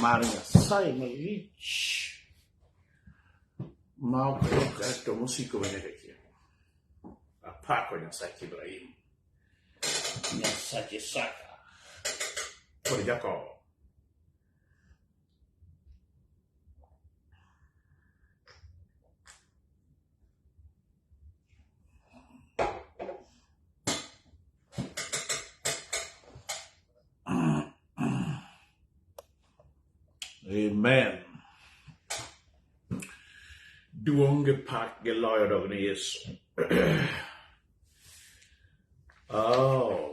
mar Nyasaye malich ma ok lokre to mosiko nyaka chieng'. Apako Nyasach Ibrahim, Nyasach Isaka kod Jakobo. Amen. Duong gi pak gi loyo dog ni Yesu. oh.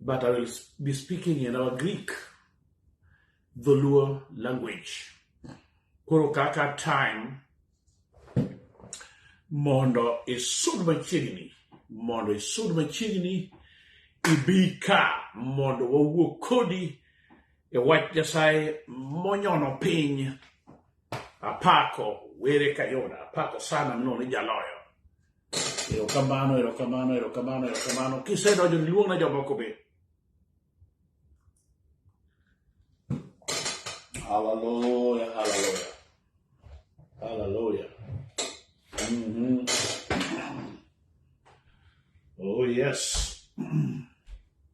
but I will be speaking in our Greek, the Luo language. Koro kaka time mondo isud machiegni mondo isud machiegni ibi ka mondo wawuo kodi e wach Nyasaye monyono piny Apako were Kayona, apako sana mno ni jaloyo. Erokamano, erokamano, erokamano, erokamano. Kisedonjo niluongna jomoko be. Hallelujah, hallelujah. Hallelujah. Mhm. Oh yes.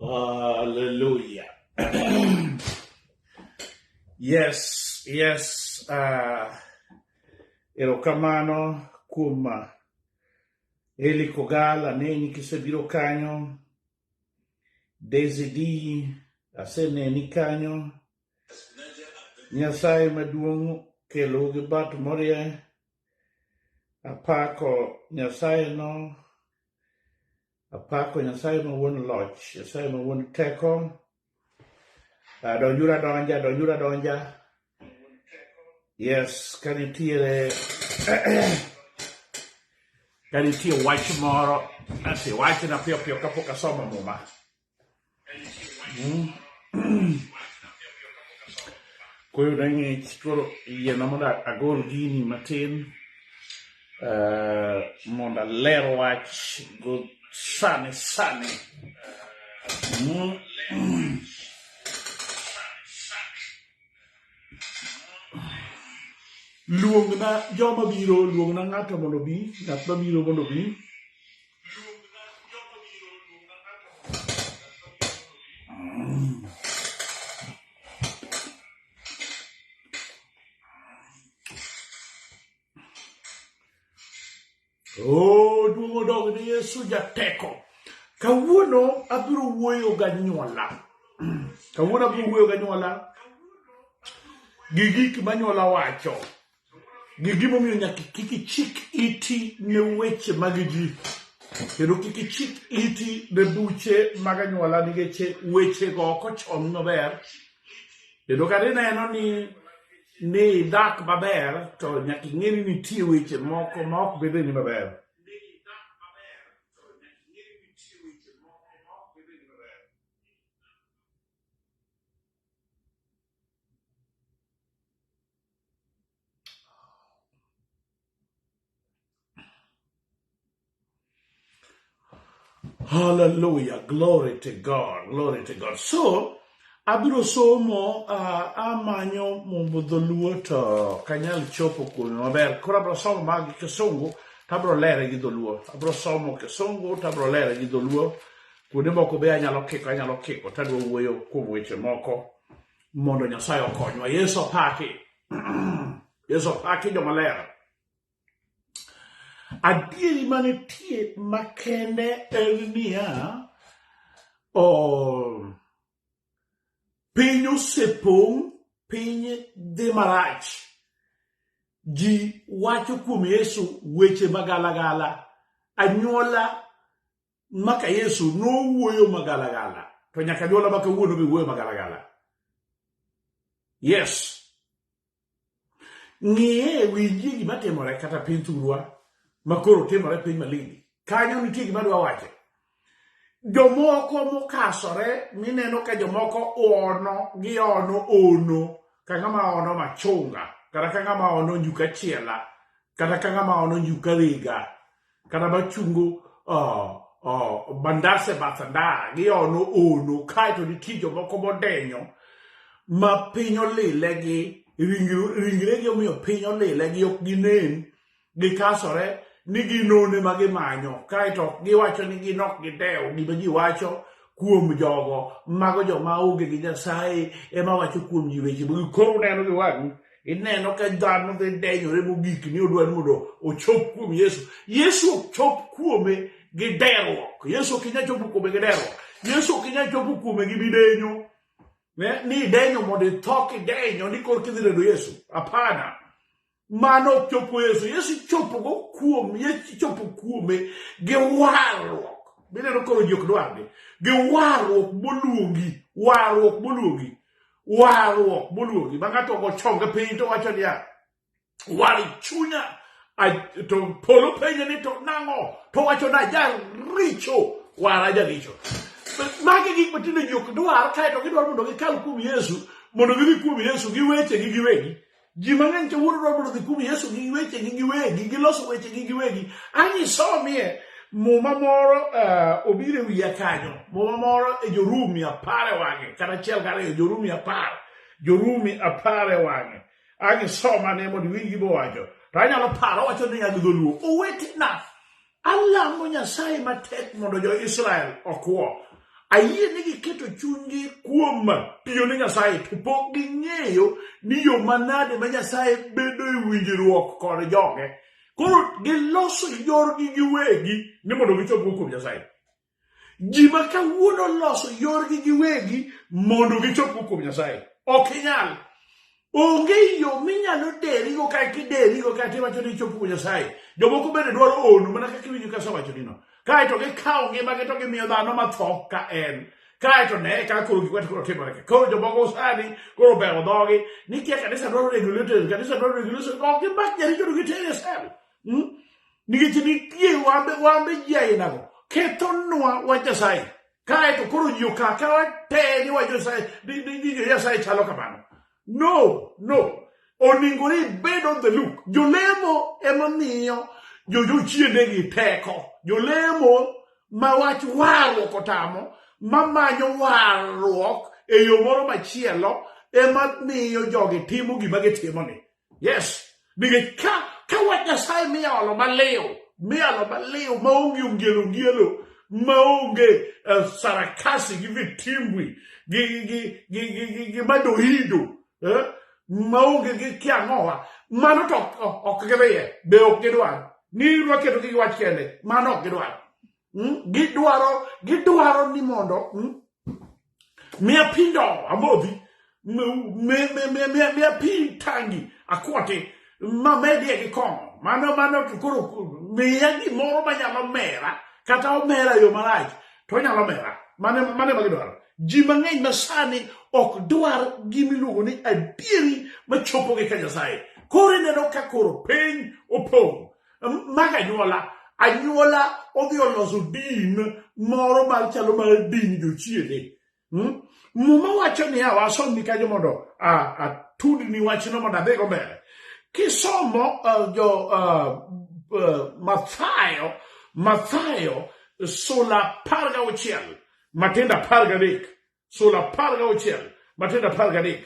Hallelujah. yes, yes. Uh, erokamano kuom uh, Eli Kogal aneni kisebiro kanyo. Daisy D aseneni kanyo. Nyasaye maduong' kelo gi bat morie. Apako Nyasaye no Apako Nyasaye ma wuon loch, Nyasaye ma wuon teko. Ah, Donjura donja, donjura donja. Yes, ka nitiere ka nitie wach moro, nasi wachna piyo piyo kapok asomo muma. Koyo na ng'ich koro yiena mondo agol gini matin eh, mondo aler wach go sani sani. Luongna joma biro, luongna ng'ato mondo obi, ng'at mabiro mondo obi. Oh, duong' odog ne Yesu jateko. Kawuono abiro wuoyo ga nyuola. Kawuono abiro wuoyo ga nyuola gi gik ma nyuola wacho. Ng'e gimomiyo nyaka kik ichik iti ne weche mag ji kendo kik ichik iti ne buche mag anyuola nikech wechego ok ochom maber kendo kata ineno ni ni idak maber to nyaka ing'e ni nitie weche moko ma ok bedre ni maber Hallelujah. Glory to God. Glory to God. So, abiro somo uh, amanyo mumbo dholuo to kanyal chopo kuome maber koro abiro somo mag kisungu to abiro lere gi dholuo abiro somo kisungu to abiro lere gi dholuo kuonde moko be anyalo kiko anyalo kiko to adwa wuoyo kuom weche moko mondo Nyasaye okonywa. Yesu opaki. Yesu opaki jomaler. Adieri manitie makende en niya, piny osepong', piny dhi marach. Ji wacho kuom Yesu weche magalagala. Anyuola maka yesu nowuoyo magalagala to nyaka nyuola maka wuono be wuoyo magalagala yes ng'iye e winjie gima timore kata piny thurwa makoro timore piny malindi kanyo nitie gima dwa wache jomoko mokasore mineno ka jomoko ono gi ono ono ka ng'ama ono machunga kata ka ng'ama ono njuka chiela kata ka ng'ama ono njuka riga kata machungo uh, uh, bandase bathanda giono ono kaeto nitie jomoko modenyo ma piny olile gi ringregi omiyo piny olile gi ok ginen gikasore ni ginone ma gimanyo kaeto ok giwacho ni gin ok gidew gima ji wacho kuom jogo mago joma onge gi nyasaye ema wacho kuom ji weche ma gikoro neno gi wang'i Ineno ka dhano dhi denyore mogik ni odwa ni mondo ochop kuom Yesu. Yesu ok chop kuome gi deruok. Yesu ok inyal chopo kuome gi deruok. Yesu ok inyal chopo kuome gi midenyo. Ne, ni idenyo mondo itho kidenyo ni kor kidhi redo Yesu. Hapana. Mano ok chopo Yesu. Yesu chopo go kuom, Yesu chopo kuome gi warruok. Mineno koro ji ok dwargi. Gi warruok moluongi. Warruok moluongi. warruok moluongi ma ng'ato ogo chonge piny to wacho niya wari chunya to polo penje ni to nang'o to wacho na jaricho wara jaricho magi gik matindo ji ok dwar kaeto gidwaro mondo gikal kuom yesu mondo gidhi kuom yesu gi wechegi giwegi ji mang'eny kawuono dwa mondo dhi kum yesu gi wechegi giwegi giloso wechegi giwegi angisomie muma moro uh, obiro e wiya kanyo muma moro e jorumi apar e wang'e kata achiel kariyo jorumi apar jorumi apar e wang'e angisomane mondo iwinj gibowacho to anyalo paro wacho ni nyag dholuo owetena Alamo Nyasaye matek mondo jo-Israel okwo. Ayie ni giketo chunygi kuom tiyo ne Nyasaye to pok ging'eyo ni yo manade ma Nyasaye bedo e winjruok kod joge. Koro giloso yorgi giwegi ni mondo gichopgo kuom Nyasaye. ji ma kawuono loso yorgi giwegi mondo gichop kuom nyasaye ok inyal onge yo minyalo derigo ka kiderigo ka kiwacho ni ichop kuom nyasaye jomoko bende dwaro ono mana kaka iwinjo kasewacho nino kaeto gikawo ngimagi to gimiyo dhano matho ka en kae to ne ka koro gik watikoro timore ka koro jomoko sani koro bewo dhogi ni kia kanisa dwaro regulators kanisa dwaro regulators ok gimak jaricho to gitere sel Hmm? Nikech nitie wambe wambe ji ainago kethonwa wach Nyasaye kae to koro ji okaka wate ni wach Nyasaye ni Nyasaye chalo kamano. No, no. Oningo ni bed on the look. Jolemo ema miyo jojochiende gi teko. Jolemo ma wach warruok otamo ma manyo warruok e yo moro machielo ema miyo jogi timo gima gitimoni. yes nikech ka ka wach nyasaye miyalo maliw miyalo maliw maonge ongielo ongielo maonge uh, sarakasi gi vitimbwi gi, gi, gi, gi, gi, gi madoido eh? maonge gi kiang'owa mano to ok gidhiye be ok gidwar ni rwaketogi gi wach kende mano ok gidwar mm? gidwaro gidwaro ni mondo mm? miya pi ndo amodhi miya pi tangi akwati mamedie gi kong'o mano mano to koro miya gimoro manyalo mera kata omera yo marach to onyalo mera mane mane magidwaro ji mang'eny ma sani ok dwar gimiluongo ni adieri machopogi ka nyasaye koro ineno ka koro piny opong' mag anyuola anyuola odhi oloso din moro mar chalo mar din jochiende hmm? muma wacho niya wasomni kanyo mondo atudni wachno mondo adhigo mbele kisomo uh, jo uh, uh, mathayo mathayo sula apar gauchiel matindo apar gadek sula apar ga auchiel matindo apar gadek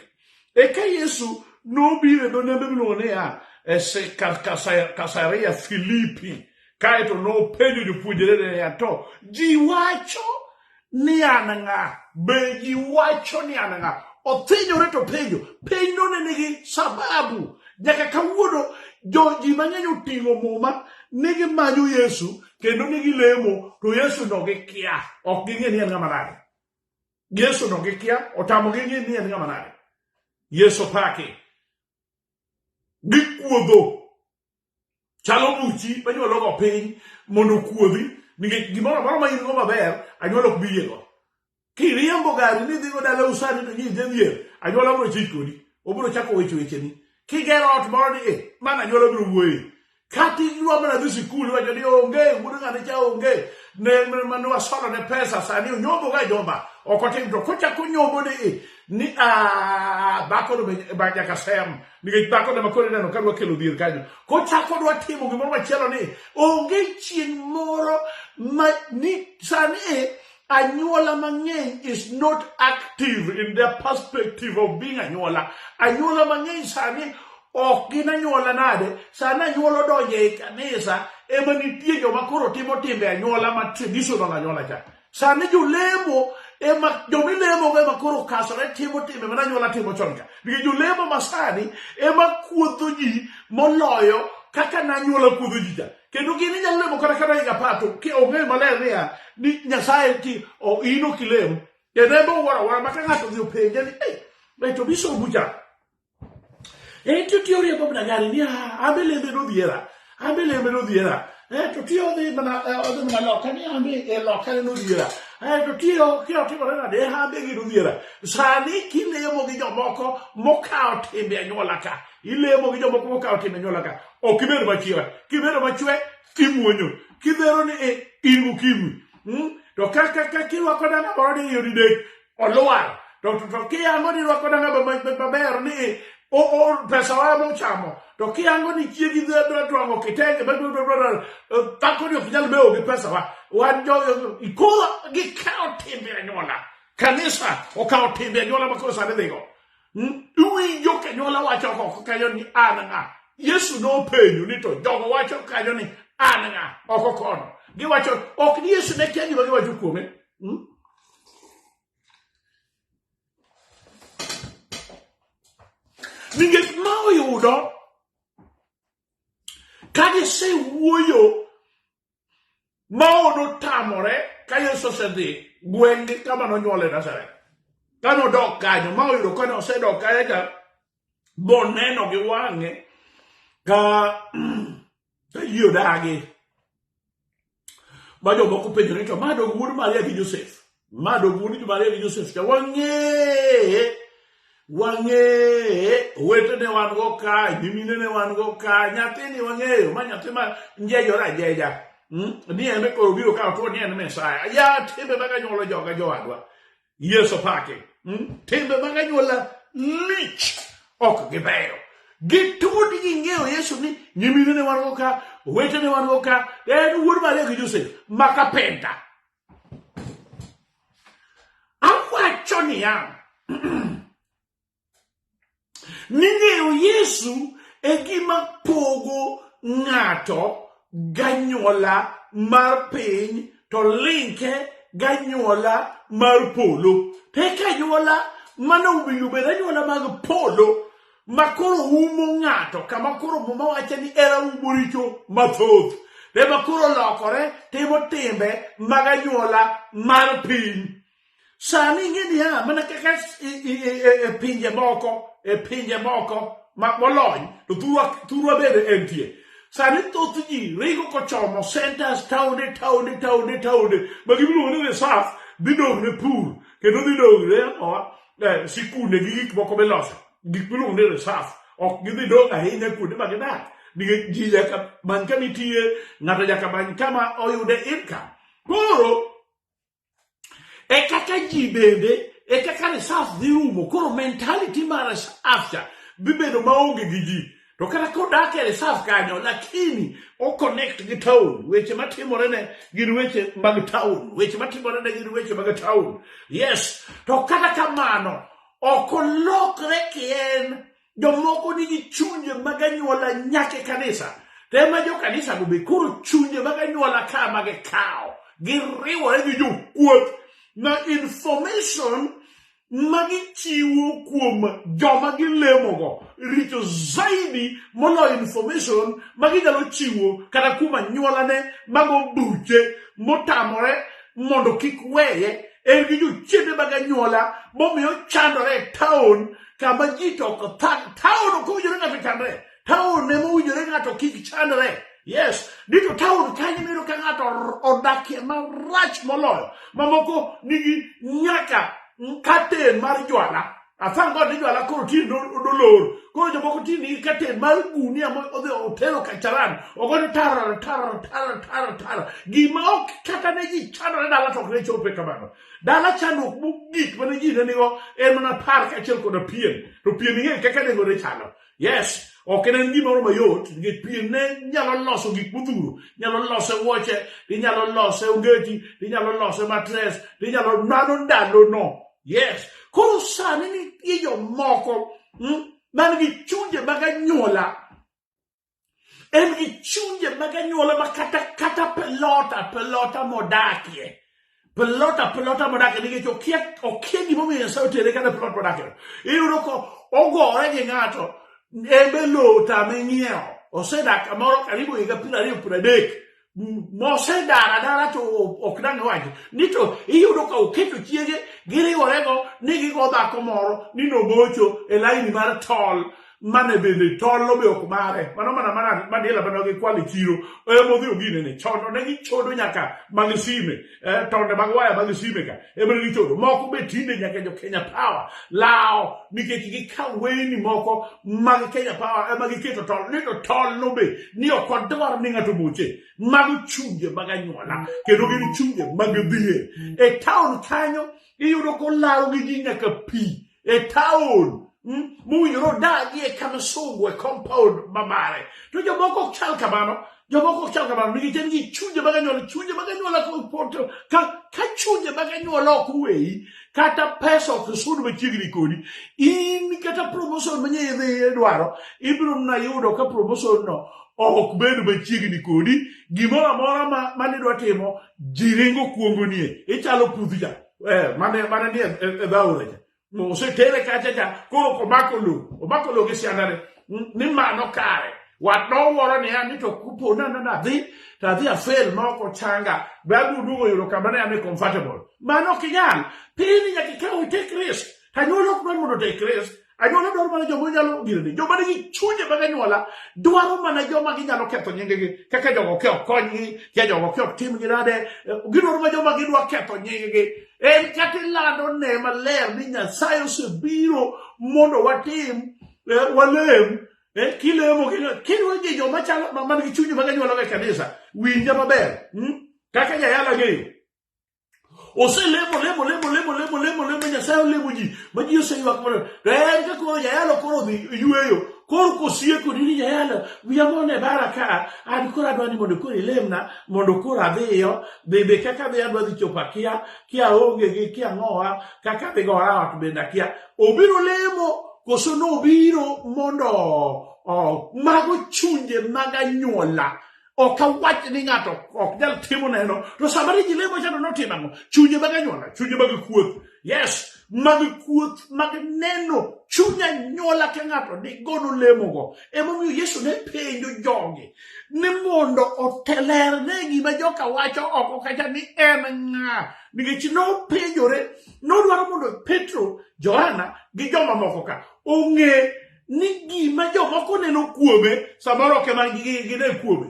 eka yesu nobiro e dho nembe miluongo niya e kasaria filipi kaeto nopenjo jopuonjre niya to ji wacho ni an ng'a be ji wacho ni an ng'a othinyore to penjo piny none nigi sababu nyaka kawuono joji mang'eny oting'o muma ni gimanyo yesu kendo ni gilemo to yesu no gikia ok ging'e ni en ng'ama nade Yesu no gikia otamogi ng'e ni en ng'ama nade. Yesu paki. Gikuodho. Chalo buchi manyuologo piny mondo okuodhi nikech gimoro amora ma in-go maber anyuola ok bi yiego. Kiriembo gari ni idhigo dala usani to nyidhi dhier anyuola biro chich kodi. Obiro chako weche wecheni. Kigero ot moro ni e mana anyuola biro wuoye. Kata inyuomo nyathi sikul iwacho ni onge wuod ng'ane cha onge ne mane wasolo ne pesa sani onyombo ga jomba ok otim to kochako nyombo ni ni a bako no ba nyaka sem nikech bako no makore neno kadwa kelo dhier kanyo kochako dwa timo gimoro machielo ni onge chieng' moro ma ni sani anyuola mang'eny is not active in their perspective of being anyuola anyuola mang'eny sani ok gin anyuola nade sani anyuola odonjo e kanisa ema nitie joma koro timo timbe anyuola ma traditional anyuola cha sani jolemo ema jomilemogo ema koro okasore timo timbe mana anyuola timo chon cha nikech jolemo masani ema kuodho ji moloyo kaka nanyuola kuodho ji cha kendo gin inyalo lemo kata kata higa apar to ong'eyo maler niya ni nyasaye ti in ok ilem kendo en bowuoro awuora ma ka ng'ato dhi openje ni eh, to biso bucha en to tiyo riembo mana gari ni ah, an be lembe nodhiera an be lembe nodhiera eh, to tiyo odhi mana eh, odhi mana loka ni an be e loka ne nodhiera to tiyo kira timore nade an be gi nodhiera sani kilemo gi jomoko mokawo timbe anyuola ka ilemo gi jomoko mokawo timbe anyuola ka ok ibed machira kibedo machwe kimuonyo kidhero ni e, in ukimwi hmm? to kaka ka kirwako danga moro ni yodi dek olwar to to kiyango ni rwako danga maber ni e, o o pesa wa mo chamo to kiyango ni chiegi dhero twango kitenge bedo e, tako ni ok nyal bewo gi pesa wa wan jo ikoro gi kawo timbe anyuola kanisa okawo timbe anyuola makoro sani dhigo Iwinjo kanyuola wacho oko kanyo ni an ng'a. Yesu nopenjo ni to jogo wacho kanyo ni an ng'a oko kono. Giwacho ok ni Yesu ne kia gima giwacho kuome. Hmm? Nikech ma oyudo ka gisewuoyo Mao notamore ka Yesu osedhi gweng'gi kama nonyuole Nazareth. Ka nodok kanyo, ma oyudo kane osedok kanyo cha, boneno gi wang'e ka ka ji odagi. Ma jomoko penjore to ma dog wuod Maria gi Josef. Ma dogundi ni Maria gi Joseph cha wang'eye wang'eye owete ne wan go ka nyimine ne wan go ka nyathi ni wang'eyo ma nyathi ma njejore ajeja hmm? ni en koro biro kawo tuo ni en mesaya ya timbe mag anyuola joga jowadwa yeso pake hmm? timbe mag anyuola lich ok gibeyo gitut ging'eyo yesu ni nyimine ne wan go ka owete ne wan go ka en wuod maria gi josef ma kapenta Awacho niya, ni ng'eyo Yesu e gima pogo ng'ato ganyuola mar piny to linke ganyuola mar polo. Pek anyuola mano winjo bed anyuola mag polo ma koro umo ng'ato kama koro muma wacho ni era umo richo mathoth ema koro olokore timo timbe mag anyuola mar piny sani ing'e niya mana kaka e pinje moko e pinje moko molony to thurwa bende entie sani thoth ji ringo kochomo centers taonde taonde taonde taonde ma gibiluongo ni reserve dhi dong' ne pur kendo dhi dong' ne oa eh, sikunde gi gik moko miloso gik miluongo ni resaf ok gidhi dong' ahinya kuonde ma gidak nikech ji nyaka many kama itiye ng'ato nyaka many kama oyude income koro e kaka ji bende e kaka resaf dhi rumo koro mentality mar resaf cha dhi bedo maonge gi ji to kata kodak e reserve kanyo lakini o connect gi town weche matimore ne gin weche mag town weche matimore ne gin weche mag town yes to kata kamano ok olokre kien jomoko nigi chunje mag anyuola nyaka e kanisa to ema jo kanisa go be koro chunje mag anyuola ka ma gikawo giriwore gi jokuoth na information ma gichiwo kuom joma gilemogo richo zaidi moloyo information ma ginyalo chiwo kata kuom anyuolane mago buche motamore mondo kik weye en gi jochiende mag anyuola momiyo chandore e taon kama ji to ok thag taon ok owinjore ng'ato chandre Taon ema owinjore ng'ato kik chandre. Yes, dito taon kanyo miyudo ka ng'ato odakie marach moloyo. Mamoko nigi nyaka katen mar jwala. Afan god ni jwala koro tin dolor. Koro jomoko tin nigi katen mar gunia ma odhi otero kacharan. Ogono tara tara tara tara tara. Gima ok kata ne ji chandore dala to ok ne chope kamano. Dala chandruok mogik mane ji ne nigo en mana par kaachiel koda pien. To pien ing'eyo kaka nengo ne chalo. Yes, ok en gimoro mayot nikech pien ne nyalo loso gik modhuro nyalo lose wuoche inyalo lose ongeti inyalo lose matres inyalo mano ndalono yes koro sani nitie jomoko hmm, man gi chunje mag anyuola en gi chunje mag anyuola ma kata kata pelota pelota modakie pelota pelota modakie nikech okia okia gimomiyo nyasaye otere kata pelot modakie iyudo ko ogore gi ng'ato embe lota ming'iewo osedak kamoro karibu higa piero ariyo piero adek mosedar adara to ok dang' wacho ni to iyudo ka oketo chiege giriworego ni gigo dhako moro ni nogocho e laini mar tol mane bende tollo be ok mare mano mana mana madiela mane gikwalo e chiro emodhi oginene chono ne gichodo nyaka mag sime eh, tonde mag waya mag sime ka ema ne gichodo moko be tinde nyaka jo kenya power lawo nikech gikaw weyni moko mag kenya power ema giketo tol ni to tol no be ni ok odwar ni ng'ato moche mago chunje mag anyuola kendo gin chunje mag dhier e taon kanyo iyudo kolawo gi ji nyaka pi e taon Mm, mowinjore odagi e kama sungu e compound mamare to jomoko ok chal kamano jomoko ok chal kamano nikech en gi chunje mag anyuola chunje mag anyuola kopoto ka ka chunje mag anyuola ok weyi kata pesa ok sud machiegni kodi in kata promotion manye idhi idwaro ibiro mna yudo ka promotion no ok bed machiegni kodi gimoro amora ma manidwa timo jiringo kuongoni e ichalo puthja eh, mane mane ni e dhaure cha mo osetere kacha cha koro komako lo omako lo gi siandane ni mano kare wat nowuoro niya ni to kupo na na nadhi to adhi afel ma ok ochanga bagudugo yudo kama ne ame comfortable mano ok inyal piny nyaka ikaw itek risk anyuola ok dwar mondo otek risk Anyuola dwaro mana joma nyalo girni. Joma nigi chunje mag anyuola dwaro mana joma ginyalo ketho nyinggi kaka jogo ke ok konygi, kaka jogo ke ok timgi nade. Gidwaro mana joma gidwa ketho nyinggi. En kata ilando ne maler ni Nyasaye osebiro mondo watim eh, walem eh, kilemo kidwa ji joma chalo man gi chunje mag anyuola e kanisa winja maber hmm? kaka jayala ng'eyo oselemo lemo lemo lemo lemo lemo lemo nyasaye olemo ji ma ji oseywak mondo to en ka koro jayalo koro dhi yweyo koro kosieko nini jayalo wiya mone bara ka an koro adwa ni mondo koro ilemna mondo koro adhiyo be be kaka adhi adwa dhi chopo akia kia onge gi kia ng'owa kaka adhi gora ot bende akia obiro lemo koso nobiro mondo oh, mago chunje mag anyuola ok awach ni ng'ato ok nyal timo neno to sama ni jilemo cha to notimo ang'o chunye mag anyuola chunye mag kuoth yes mag kuoth mag neno chuny anyuola ka ng'ato nigo nolemogo emomiyo yesu ne penjo jogi ni mondo otelerne gima joka wacho oko kacha ni en ng'a nikech nopenjore nodwaro mondo petro johana gi jomamoko ka ong'e ni gima jomoko neno kuome samoro ok ema gine kuome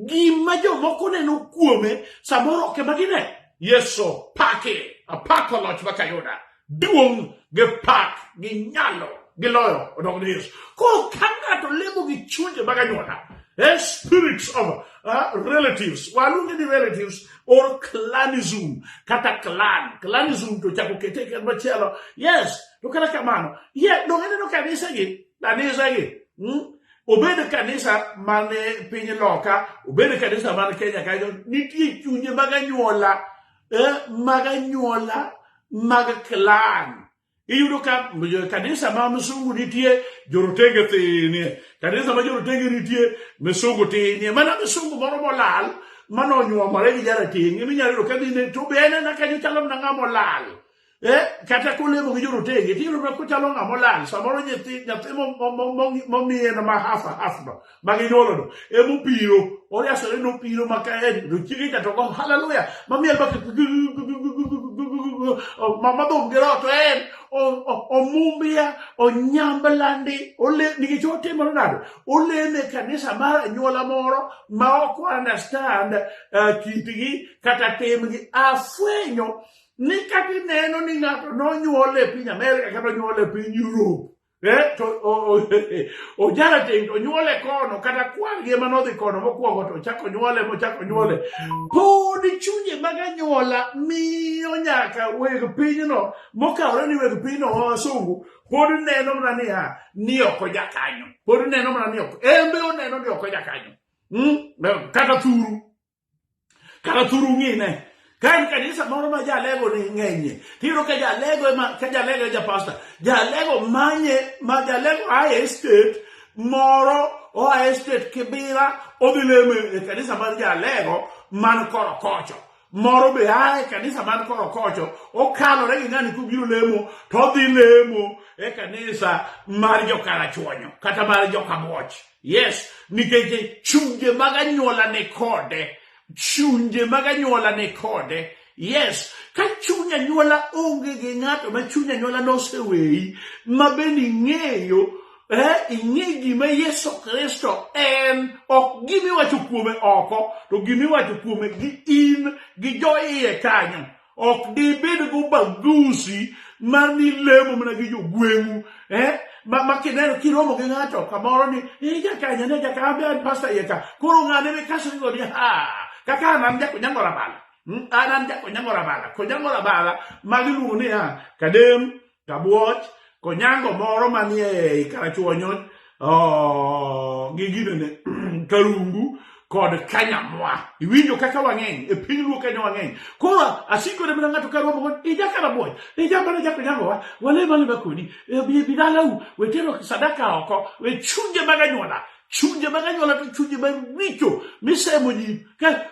gima jomoko neno kuome samoro ok ema gine yesu pake apako loch makayuda duong' gi pak gi nyalo gi loyo odog ne yesu koro ka ng'ato lemo gi chunje mag anyuola eh, spirits of uh, relatives waluonge ni relatives or clanism kata clan clanism to chako kete ken machielo yes to kata kamano ye donge neno kanisegi kanisegi hmm? obed kanisa man e piny loka obed kanisa man kenya kanyo nitie chunye mag anyuola eh, mag anyuola mag clan iyudo ka kanisa ma msungu nitie jorotenge thinie kanisa ma jorotenge nitie msungu tinie mana msungu moro molal manonyuomore gi jaratenge minyalo yudo kadhine to be en ena kanyo chalo mana ng'a molal Eh, kata kolemo gi jorotenge tiyudo mana kochalo ng'ama olal samoro nyathi nyathi momiye na ma hafa hafno ma ginyuolono emopiro oriasore nopiro maka en to chiege cha to go haleluya mamiel baka mamadhum gi roho to en omumbia onyamblandi nikech otimore nado oleme e kanisa mar anyuola moro ma ok understand eh, kitgi kata timgi afwenyo ni kata ineno ni ng'ato nonyuol e piny Amerika kata onyuol e piny Europe eh, to ojara tindo onyuole kono kata kwargi ema nodhi kono mokwongo to ochako onyuole mochako onyuole pod chunye mag anyuola miyo nyaka weg pinyno mokawore ni weg pinyno ma wasungu pod neno mana niya ni ok ojakanyo pod neno mana ni ok embe oneno ni ok ojakanyo hmm? kata thuru kara thuru ng'ine ka en kanisa moro ma jalego ni ng'enye tiyudo ka jalego ema ka jalego e ja pasta jalego manye ma jalego aye state moro oa e state kibira odhi lemo e kanisa mar jalego man korokocho moro be a e kanisa man korokocho okalore gi ng'ani kobiro lemo to odhi lemo e kanisa mar jokarachuonyo kata mar jokamuoch Yes, nikech chunje mag anyuola ni kode, chunje mag anyuola ni kode. Yes, ka chuny anyuola onge gi ng'ato ma chuny anyuola noseweyi, ma bende ing'eyo eh, ing'e gima Yesu Kristo en, ok gima iwacho kuome oko, to gima iwacho kuome gi in gi jo iye kanyo. ok dibed go bagusi mar ni lemo mana gi jogweng'u eh? ma, ma kineno kiromo gi ng'ato kamoro ni i jakanya ne jakambe an pasta yeka koro ng'ane me kaso igo ni ha kaka an an jakonyango rabala hmm? an an jakonyango rabala konyango rabala magiluongo ni ha kadem Tabuoch, Konyango moro manie Karachuonyo oh, gi ginene Karungu kod Kanyamwa. Iwinjo kaka wang'eny e piny luo Kenya wang'eny. Koro asikore mana ng'ato ka rombo kod ija Karabuoch, ija mana ja Konyangowa, wale mane bakoni, e bi bi dalau, wetero sadaka oko, we chunje mag anyuola. chunje mag anyuola to chunje mag richo misemo ji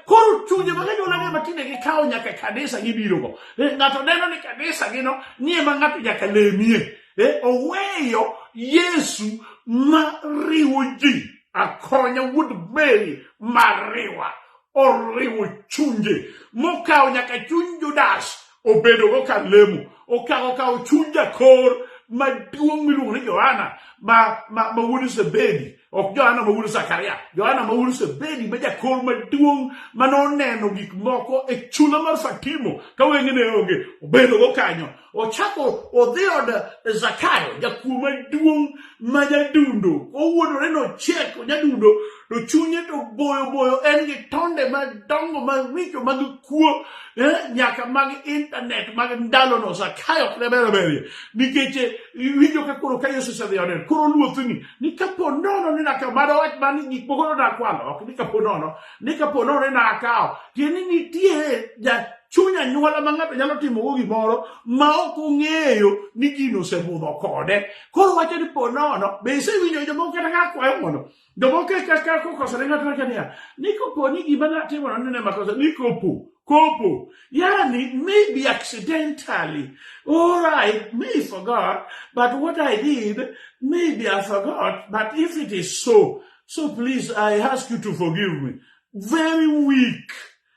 koro chunje mag anyuola ne matinde gikawo nyaka kanisa gibirogo eh, ng'ato neno ni kanisa gino nie ma ng'ato nyaka lemie eh, oweyo yesu ma riwo ji akonya wuod mary mariwa oriwo chunje mokawo nyaka chuny judas obedogo ka lemo okawo kawo chuny jakor maduong' miluongo ni johana ma ma ma wuod zebedi ok johana ma wuod zakaria johana ma wuod zebedi ma jakor maduong' ma noneno gik moko e chula mar fatimo ka wenge ne onge obedogo kanyo ochako odhi od zakayo jakuo maduong' ma jadundo owuodore nocheko jadundo to chunye to boyo boyo en gi tonde madongo maricho mag kuo eh, nyaka mag intanet mag ndalono sakayo ok ne ber berie nikech eh, iwinjo ka koro ka yesu osedhi one koro luothni ni kapo nono ni naka mado wach ma ni gik moko nonakwalo ok ni kapo nono ni kapo nono ni nakawo tieni nitie ja chuny anyuola ma ng'ato nyalo timogo gimoro ma ok ong'eyo ni gino osebudho kode koro wacho ni po nono be isewinjo jomoko kata ka kwayo mondo Jomoko e kaka kokosore ng'ato wacho niya, ni kopo ni gima natimono nene makosa, ni kopo, kopo. Yani, maybe accidentally, all right, me forgot, but what I did, maybe I forgot, but if it is so, so please, I ask you to forgive me. Very weak.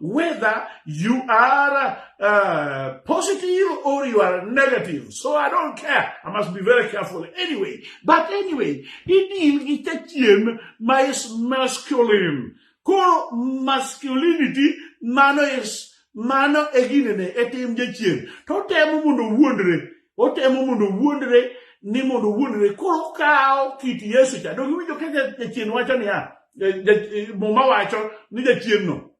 whether you are uh, positive or you are negative. So I don't care. I must be very careful anyway. But anyway, idil gi tachiem ma is masculine. Koro masculinity mano is mano e ginene e tim jachien. To temo mondo wuondre otemo mondo wuondre ni mondo wuondre koro kawo kit yesu cha donge winjo ka jachien wacho niya muma wacho ni jachienno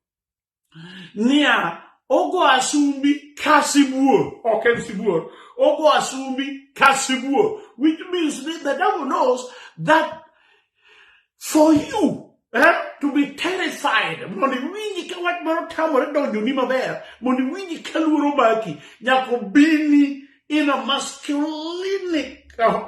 niya ogo asumbi ka sibuor ok en sibuor ogo asumbi ka sibuor which means that the devil knows that for you eh, to be terrified mondo iwinji ka wach moro tamore donjoni maber mondo iwinji ka luoro maki nyaka obini in a masculinic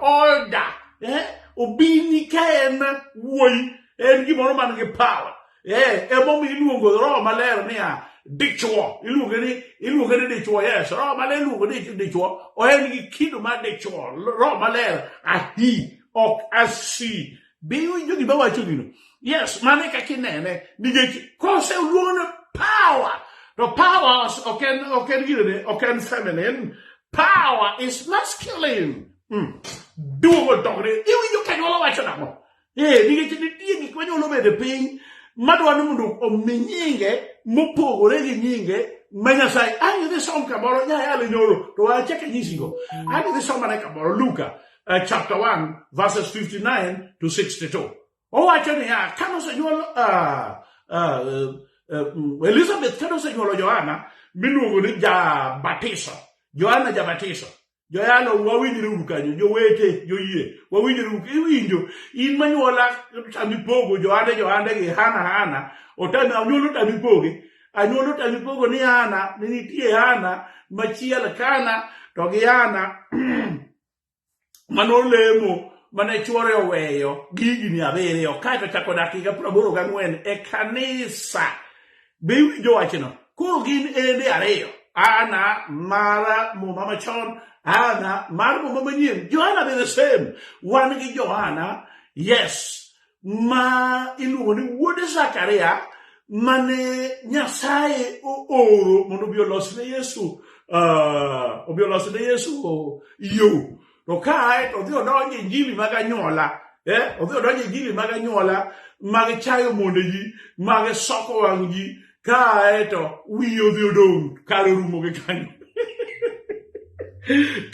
order eh? obini ka en wuoyi en gimoro man gi power eh, emomiyo iluongo roho maler niya dichwo iluonge ni iluonge ni dichwo yes roho maler iluongo ni dichwo oen gi kido mar dichwo roho maler ahi ok asi be iwinjo gima wacho gino yes mano e kaka inene nikech kose oluongone power to powers ok en ok en gidene ok en feminine power is masculine mm. duogo dogre iwinjo ka nyuola wacho nang'o ee nikech nitie gik manyuolo bedo piny madwa ni mondo omi nyinge mopogore gi nyinge ma nyasaye ang' idhi som kamoro nyayalo nyoro to achaka nyisigo ang' idhi somane kamoro luka uh, chapter 1 verses 59 to 62 owacho niya kane osenyuol uh, uh, uh, elizabeth kane osenyuolo johana miluongo ni jabatiso johana jabatiso joyalo wawinjre uru kanyo jowete joyie wawinjre uru iwinjo in manyuola tami pogo johande johande gi hana hana otami anyuolo tami poge anyuolo tami pogo ni hana ni nitie hana machiel kana to gi hana mane olemo mane chwore oweyo gi higni abiriyo kaeto chako dak higa praboro gang'wen e kanisa be iwinjo wachno koro gin ende ariyo ana mar muma machon ana mar muma manyien johana be the same wan gi johana yes ma iluongo ni wuod Zakaria mane Nyasaye ooro mondo obi olos ne Yesu uh, obi olos ne Yesu yo to kae to odhi odonjo injili mag anyuola eh? odhi odonjo injili mag anyuola mag chayo monde ji mag soko wang' ji kae to wiye odhi odong kare orumo gi kanyo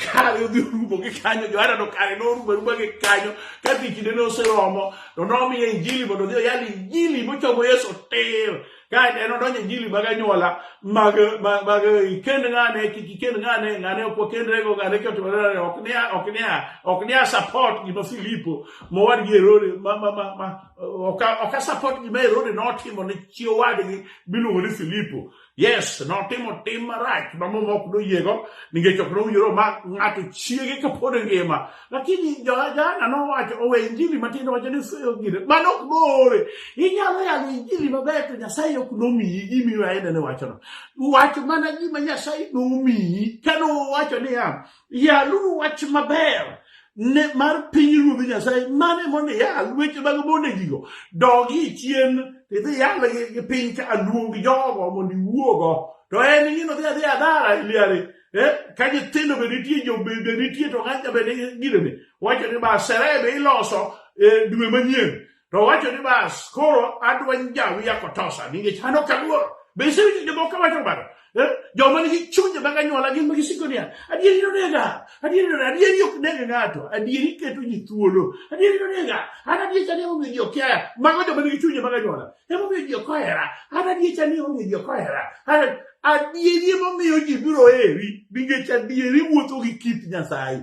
kare odhi orumo gi kanyo johana to kare norumo aruma gi kanyo ka dhi kinde ne oseromo to nomiye injili mondo odhi oyal injili mochomo yesu tir kae to en odonjo injili mag anyuola mag mag ikend ng'ane kik ikend ng'ane ng'ane ok wakendrego ng'ane kotimore ok nia ok nia ok nia support gima filipo mowadgi herode ma ma ma ok asapot gima Herode notimo ne chi owadgi miluongo ni Filipo. Yes, notimo tim marach ma muma ok noyiego nikech ok nowinjore omak ng'ato chiege kapod ngima. Lakini Johana nowacho owe injili matin wacho ni gire mano ok noore. Inyalo yalo injili maber to Nyasaye ok nomiyi gimiyo aende ne wachono. Wach mana gima Nyasaye nomiyi kano wacho niya Yaluru wach maber ne mar piny ruodhi Nyasaye mane mondo iyal weche mag mondegigo dogi chien idhi yal gi piny ka aluong jogo mondo iwuogo to en gino dhi adhi adara iliari eh, ka nyithindo be nitie jo be nitie to ng'acha be nigi gino ni wacho ni ba serebe iloso eh, dwe manyien to owacho ni bas koro adwa njawi ya kotosa nikech an ok aluor be isewinjo jomoko wacho kamano Eh, joma nigi chunje mag anyuola gin ma gisiko niya adieri nonega adieri nonega adieri ok neg ng'ato adieri keto ji thuolo adieri nonega an adieri chani emomiyo ji ok yaya mago joma nigi chunje mag anyuola emomiyo ji ok ohera an adieri chani emomiyo ji ok ohera An- adieri emomiyo ji biro heri nikech adieri wuotho gi kit nyasaye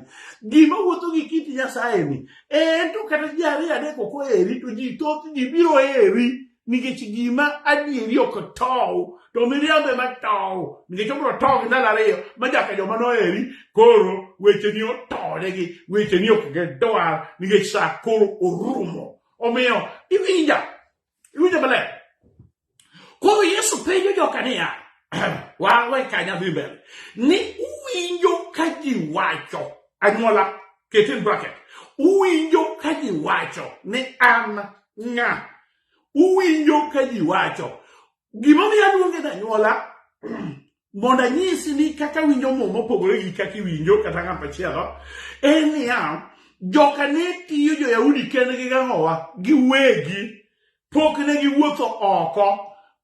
gima wuotho gi kit nyasaye ni en to kata ji ariyo adek ok oheri to ji thoth ji biro heri nikech gima adieri ok tow to miriambo ema tow nikech obiro tow gi ndalo ariyo ma nyaka joma noheri koro wecheni otonegi wecheni ok gidwar nikech sa koro orumo omiyo iwinja Iwinjo maler? Koro Yesu penjo joka niya, wawe ka nyathi mbele, ni uwinjo ka ji wacho, anyuola, ket in bracket, uwinjo ka ji wacho ni an ng'a, uwinjo ka ji wacho, gimomiyo aluonge anyuola, mondo anyisi ni kaka winjo muma opogore gi kaka iwinjo kata ng'at machielo en niya joka ne tiyo jo-yahudi kendgi gang'owa giwegi pok ne giwuotho oko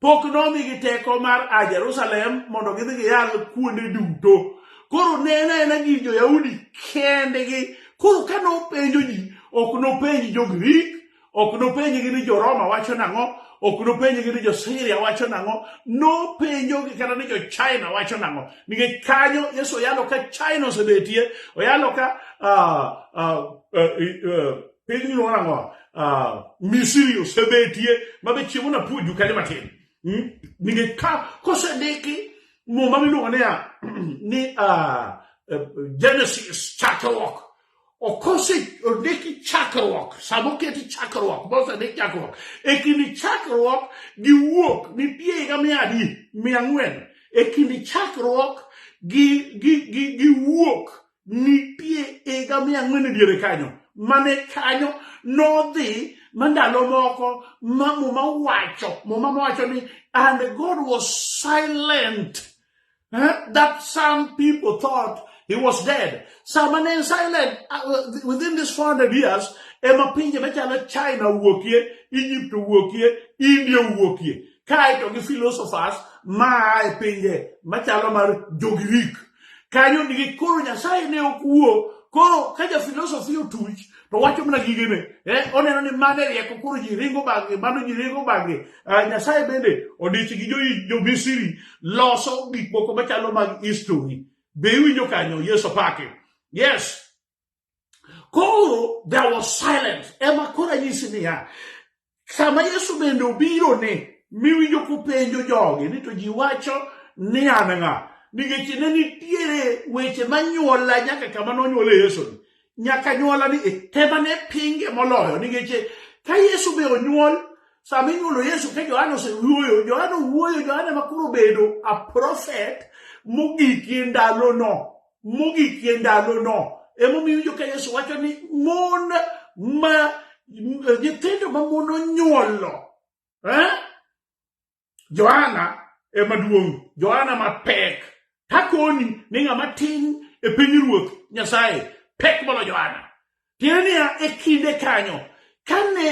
pok nomigi teko mar a jerusalem mondo gidhi giyal kuonde duto koro ne en aena gi jo-yahudi kendgi koro ka nopenjo ji ok nopenj jo-grik Ok nopenjgi ni jo-Roma wacho nang'o, ok nopenjgi ni jo-Siria wacho nang'o, nopenjogi kata ni jo-China wacho nang'o. Nikech kanyo Yesu oyalo ka China osebetie, oyalo ka ah, ah, eh, eh, piny miluongo nang'o, ah, Misri osebetie, mabe chiemo napuonju kanyo matin. Hmm? Nikech ka kosediki muma miluongo niya ni ah, eh, Genesis chakruok okose ondiki chakruok sama oketi chakruok mosendik chakruok e kind chakruok gi wuok nitie higa mia adi mia ang'wen e kind chakruok gi, gi, gi, gi wuok nitie higa mia ang'wen e diere kanyo mane kanyo nodhi ma ndalo moko ma muma wacho muma wacho ni and god was silent huh? that some people thought he was dead. Some are in silent uh, within these 400 years. Ema pinje machalo China wuokie, Egypt wuokie, India wuokie. Kaito gi philosophers ma e pinje machalo mar Jogrik. Kanyo nigi koro Nyasaye ne okuo. Koro ka ja philosophy otuch, to wacho mana gigene eh, oneno ni mano e rieko koro ji ringo bang'e mano ji ringo bang'e uh, nyasaye bende odich gi jomisiri jo loso gik moko machalo mag history be iwinjo kanyo yesu pake yes koro there was silence ema koro anyisi niya sama Yesu bende obiro ni miwinjo kupenjo jogi ni to ji wacho ni an ng'a nikech ne nitiere weche manyuola nyaka kama nonyuole Yesu ni nyaka nyuola ni e, tema ne pinge moloyo nikech ka Yesu be onyuol sama inyuolo Yesu ka Johana osewuoyo Johana owuoyo Johana makoro obedo a prophet mogik e ndalono mogikie ndalono emomiyo winjo ka yesu wacho ni mon ma nyithindo ma mon onyuolo eh? johana emaduong' johana mapek takoni ni ng'ama tin e piny ruoth nyasaye pek molo johana Tiende niya, e kinde kanyo, kane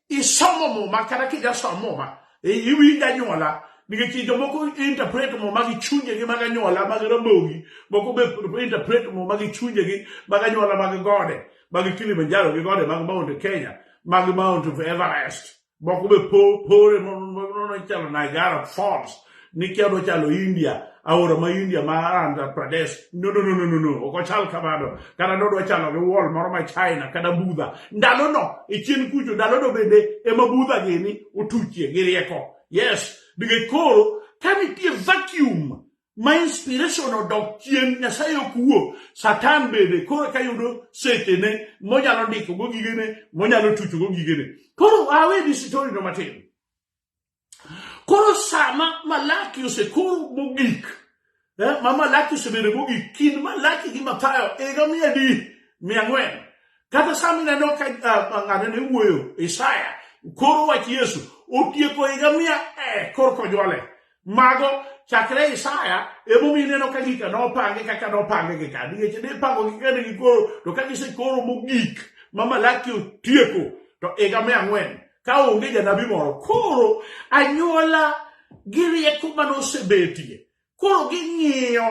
isomo muma kata kijasomo muma, e, iwinjo anyuola nikech jomoko interpret muma gi chunjegi mag anyuola mag rabogi moko be interpret muma gi chunjegi mag anyuola mag gode mag kilimanjaro gi gode mag mount kenya mag mount of everest moko be pore nono chalo Niagara Falls nikia odwa chalo India aora ma India ma Andhra Pradesh no no no no no ok ochal kamano kata nodwa chalo gi wall moro ma China kata Budha ndalo no e chien kucho ndalo no bende ema Budha gini otuchie gi rieko yes nikech koro ka nitie vacuum ma inspiration odok chien nyasaye ok wuo satan bende koro eka yudo sechene monyalo ndikogo gigene monyalo tuchogo gigene koro awe disitorino matin koro sama malaki osekoro mogik eh, ma malaki osebedo mogik kind malaki gi mathayo higa mia adi mia ang'wen kata sama ineno ka ah, ng'ane ne wuoyo isaya koro wach yesu otieko higa mia eh, koro kojwale Mago chakre Isaya emomi ineno ka gika nopange kaka nopange gi ka nikech ne ipango gi kane gikoro to ka gisekoro mogik ma Malaki otieko to higa mia ang'wen ka onge janabi moro koro anyuola gi rieko mane osebetie koro ging'iyo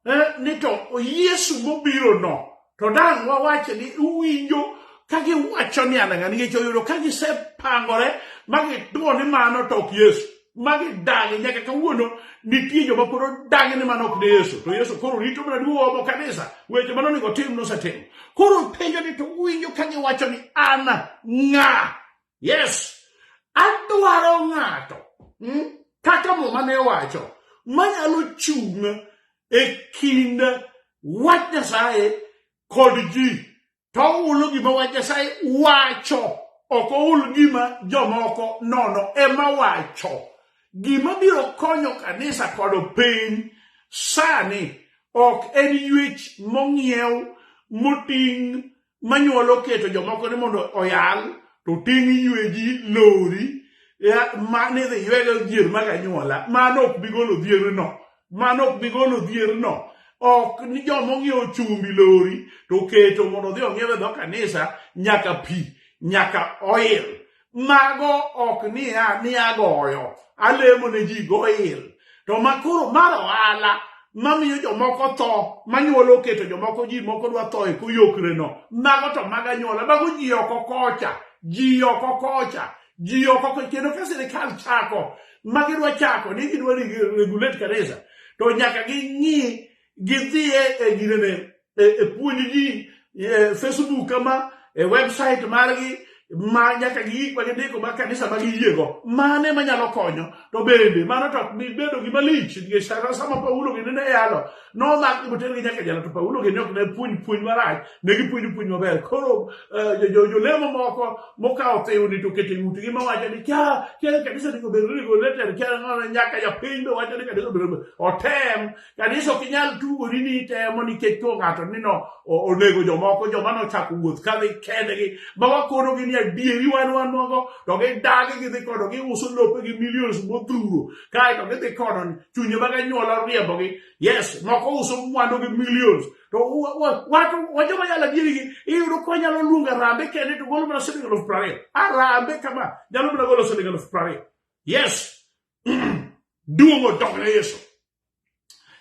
eh, ni to Yesu mobiro no to dang' wawache ni uwinjo ka giwacho ni an ng'a nikech oyudo ka gisepangore ma gituo ni mano to ok Yesu ma gidagi nyaka kawuono nitie joma pod odagi ni mano ok ne Yesu to Yesu koro rito mana duomo kanisa weche mano onego tim nosetimo koro penjo ni to uwinjo ka giwacho ni an ng'a Yes, adwaro ng'ato hmm, kaka muma ne wacho manyalo chung' e kind wach Nyasaye kod ji to ulo gima wach Nyasaye wacho ok oul gima jomoko nono ema wacho gima biro konyo kanisa kod piny sani ok en yuech mong'iew moting' manyuolo keto jomoko ni mondo oyal to ting' yweji lori ma nidhi ywego dhier mag anyuola mano ok bi golo dhierno mano ok bi golo dhierno ok ni joma ong'iewo chumbi lori to keto mondo odhi ong'iew e dho kanisa nyaka pi nyaka oil mago ok niya ni agoyo alemo ne ji goil to makoro mar ohala mamiyo jomoko tho manyuola oketo jomoko ji moko dwa tho e koyokreno mago to mag anyuola mago ji oko kocha ji oko kocha ji oko kocha kendo ka sirikal chako ma gidwa chako ni gidwa regulate kanisa to nyaka ging'i gidhiye e ginene e, e puonj ji e, facebook ma e website margi ma nyaka gi gik ma gindiko ma kanisa ma giyiego mane manyalo konyo to bende mano to ok bedo gima lich nikech sara sama paulo gini ne yalo nomak ni motergi nyaka jala to paulo gini ok ne puonj puonj marach ne gipuonjo puonj maber koro e, jolemo moko mokawo thiwni to keto e ng'utgi mawacho ni kya kya kanisa ni obedo ni goleter kya nyaka japiny be wacho ni kanisa obedo otem Kanisa ok inyal tugori ni itemo nikech to ng'ato ni no onego jomoko joma nochako wuoth ka dhi kendgi ma wakonogi ni adieri wan wan nogo to gidagi gidhi kodo giuso lope gi millions modhuro kaeto gidhi kodo chunye mag anyuola riembogi yes moko uso mwandu gi millions to wacho wajoma yala adieri gi iyudo ko nyalo luongo arambe kende to golo mana siling eluf prariyo arambe kama nyalo mana golo siling eluf prariyo yes duong' odog ne yesu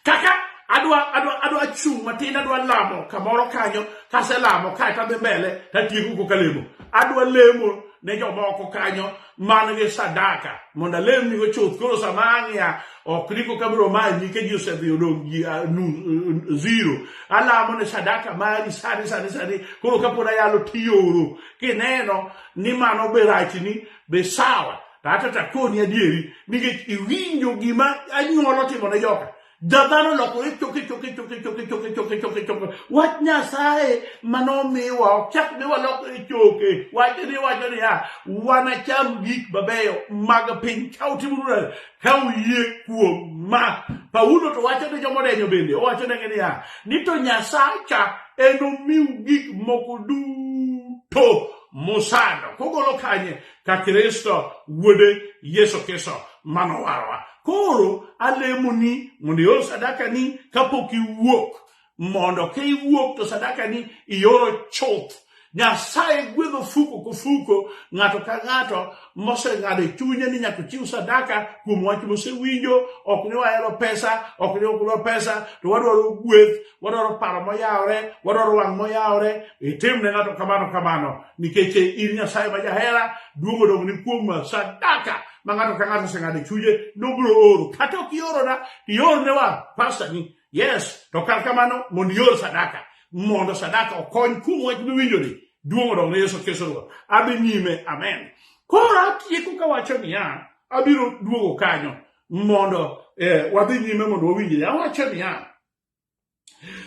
kaka adwa adwa adwa chung' matin adwa lamo kamoro kanyo kaselamo kae tadhi mbele tatieko ko kalemo adwa lemo ne jomoko kanyo man gi sadaka mondo alemnigo chuth koro sama ang'iya ok niko kabiro manyi ka ji osedhi odong' ji ah, eh, zero alamo ne sadaka mari sani sani sani koro kapod ayalo tioro kineno ni mano be rachni be sawa Kata to akoni adieri nikech iwinjo gima anyuola otimo ne joka. Jadhano olokore choke choke choke choke choke choke choke choke. Wach Nyasaye manomiwa ok chak ne walokore choke. Wach ni wacho niya, wanacham gik mabeyo mag piny ka utimo nura ka uyie kuom ma. Paulo to wacho ne joma odenyo bende owacho negi niya, ni to Nyasaye cha enomiu gik moko duto musando. Kogolo kanye? ka Kristo wuode Yesu Kristo mano warwa. Koro alemo ni mondo ior sadaka ni kapok iwuok mondo ka iwuok to sadaka ni ioro chuth nyasaye gwedho fuko ku fuko ng'ato ka ng'ato moseng'ado e chunye ni nyaka chiw sadaka kuom wach mosewinjo ok ni wahero pesa ok ni okdwa pesa to wadwaro gweth wadwaro paro moyawore wadwaro wang' moyawore itim ne ng'ato kamano kamano nikech in nyasaye ma jahera duong' odong' ni kuom sadaka ma ng'ato ka ng'ato oseng'ado e chunye nobiro oro kata ok iorona iorne wa pasta ni yes to kar kamano mondo ior sadaka mondo sadaka okony kuom wach miwinjoni duong' odong' ne yesu kristo ruoth adhi nyime amen koro atieko kawacho niya abiro duogo kanyo mondo eh, wadhi nyime mondo wawinjre awacho niya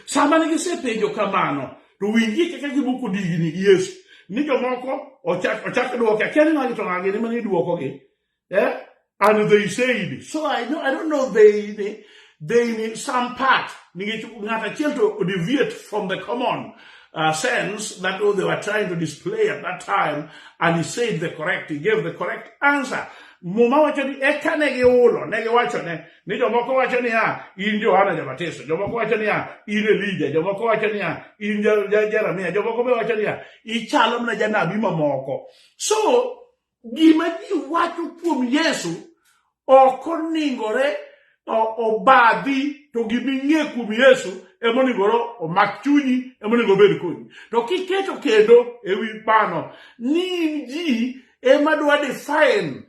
Sama ne gisepenjo kamano, to winjie kaka giboko digni gi Yesu. Ni jomoko ochak ochak dwoke, akia ni ng'agi to ng'agi ni mane idwokogi. Eh? And they said, so I know I don't know they ni they ni some part nikech ng'at achiel to deviate from the common uh, sense that oh, they were trying to display at that time and he said the correct he gave the correct answer muma wacho ni eka ne giulo ne giwachone ni jomoko wacho niya in johana jabatiso jomoko wacho niya in elija jomoko wacho niya in jeremia jomoko be wacho niya ichalo mana janabi mamoko so gima ji wacho kuom yesu ok oningore obadhi to gima ing'e kuom yesu emonigoro omak chunyi emonego obed kodi to kiketo kendo ewi mano ni in ji ema dwa define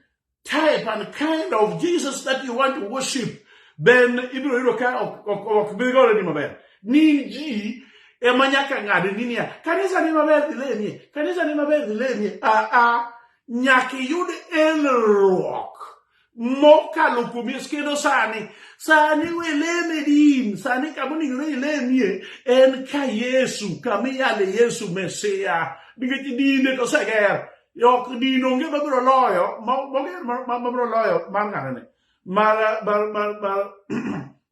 type and kind of Jesus that you want to worship, then ibiro yudo ka ok bi gore ni maber. Ni ji ema nyaka ng'ad ni niya, kanisa ni maber dhilemie, kanisa ni maber dhilemie. Ah ah, nyaka iyud elruok mokalo kuom Yesu kendo sani sani weleme din sani kama onego ne ilemie en ka Yesu kama iyale Yesu Mesia nikech dinde to oseger ok din onge mabiro loyo mabiro loyo mar ng'anene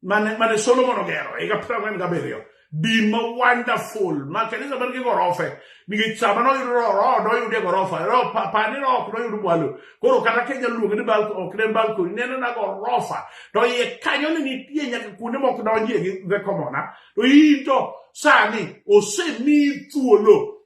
mane solomon ogero higa piero ang'wen gabiriyo din ma wonderful ma kanisa man gi gorofe nikech sama noyudo roho noyude gorofa roho pani roho ok noyud mwalo koro kata kenya luonge ni balko ok ne balko neno na gorofa to iye kanyo ne nitie nyaka kuonde mok donjie gi the commona to in to sani osemi thuolo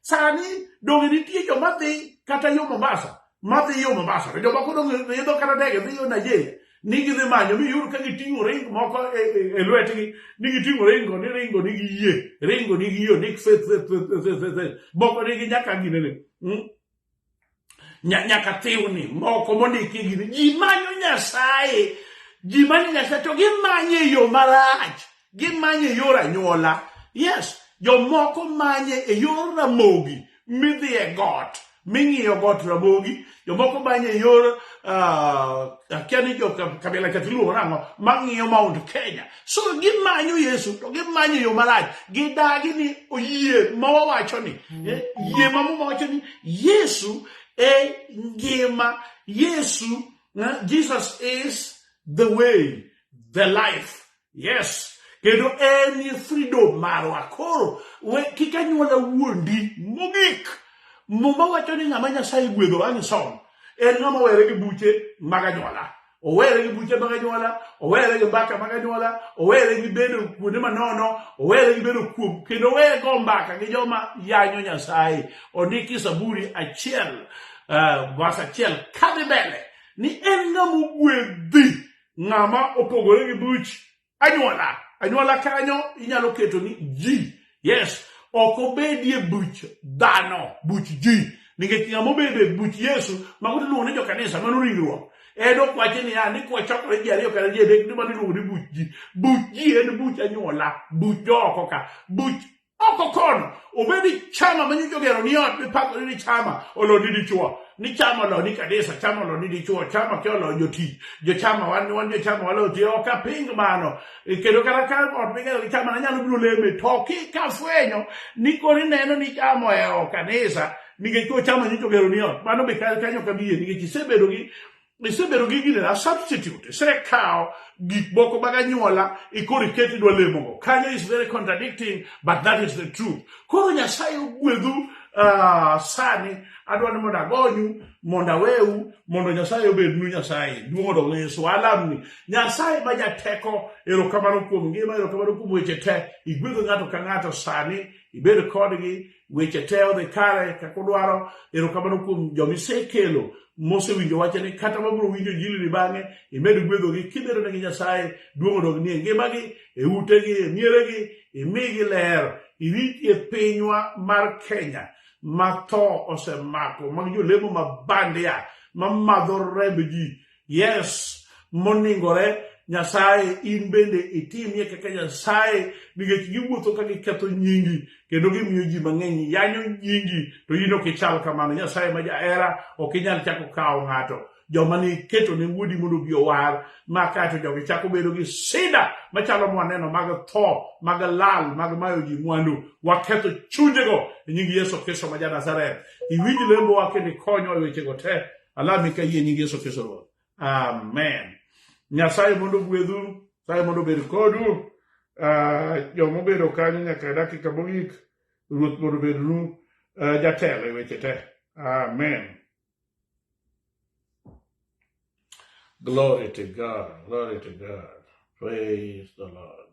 Sani donge nitie joma dhi kata yo Mombasa, ma dhi yo Mombasa, to jomoko donge idho kata ndege dhi yo Nigeria ni gidhi manyo mi yud ka giting'o ring moko e, e, e lwetgi ni giting'o ringo ni ringo ni giyie ringo ni giyo ni moko nigi nyaka ginene hmm? nyaka thiwni moko mondiki e gini ji manyo nyasaye ji manyo nyasaye to gimanye e yo marach gimanye e yor anyuola yes jomoko manye e yor ramogi midhi e got ming'iyo got ramogi jomoko manye e yor ah, akia ni jo kabila kathiluongo nang'o mang'iyo mount kenya so gimanyo yesu to gimanyo yo marach gidagi ni oyie ma wawacho ni eh, yie ma muma wacho ni yesu e ngima yesu eh, jesus is the way the life yes kendo en e freedom marwa koro we kik anyuola wuondi mogik muma wacho ni ng'ama nyasaye gwedho ang' som en ng'ama were gi buche mag anyuola owere gi buche mag anyuola owere gi mbaka mag anyuola owere gi bedo kuonde manono owere gi bedo kuom kendo owere go mbaka gi joma yanyo nyasaye ondiki saburi achiel eh, vas achiel kadhi mbele ni en ng'ama ogwedhi ng'ama opogore gi buch anyuola anyuola kanyo inyalo keto ni ji yes ok obedie buch dhano buch ji nikech ng'ama obedo e buch yesu mago tiluongo ni jokanisa mano ringruok en ok wachi niya ni kwachokore ji ariyo kata ji adek ni mano iluongo ni buch ji buch ji en buch anyuola buch jooko ka buch oko kono obedi chama ma nyocha ogero ni ot mipakore ni chama olo ni dichuo ni chama olo ni kanisa chama olo ni dichuo chama ke olo jotich jochama wan wan jochama walo ti ok aping mano E, kendo kata ka ot migero gi chama nanyalo biro leme to kikafwenyo ni koro ineno ni chama ohero kanisa nikech ko chama nyocha ogero ni ot mano be ka- kanyo kabie nikech isebedo gi isebedo gi gine a substitute isekawo gik moko mag anyuola ikoro iket idwa lemogo kanyo is very contradicting but that is the truth koro nyasaye ogwedhu uh, sani adwa ni mondo agonyu mondo aweu mondo nyasaye obednu nyasaye duong' odog yesu alamni nyasaye ma jateko erokamano kuom ngima erokamano kuom weche te igwedho ng'ato ka ng'ato sani ibed kodgi weche te odhi kare kaka udwaro erokamano kuom joma isekelo mosewinjo wache ni kata mabiro winjo jilini bang'e imed gwedhogi kibedo negi nyasaye duong' odog nie ngimagi e utegi e mieregi imigi ler irit e pinywa mar kenya ma tho osemako mag jolemo ma bandia ma madho remb ji yes moningore Nyasaye in bende itimie kaka Nyasaye nikech giwuotho ka giketho nyingi kendo gimiyo ji mang'eny yanyo nyingi to in ok ichal kamano Nyasaye ma jahera ok inyal chako kawo ng'ato joma niketo ne wuodi mondo obi owar ma kaeto jogi chako bedo gi sida machalo mwaneno mag tho mag lal mag mayo ji mwandu waketho chunjego e nying Yesu Kristo ma ja Nazareth iwinj lembowa kendo ikonyo e wechego te ala mi ka yie nying yesu kristo ruoth amen nyasaye mondo gwedhu nyasaye mondo obed kodu uh, joma obedo kanyo nyaka dakika mogik ruoth mondo obednu uh, jatelo e weche te amen glory to god glory to god praise the lord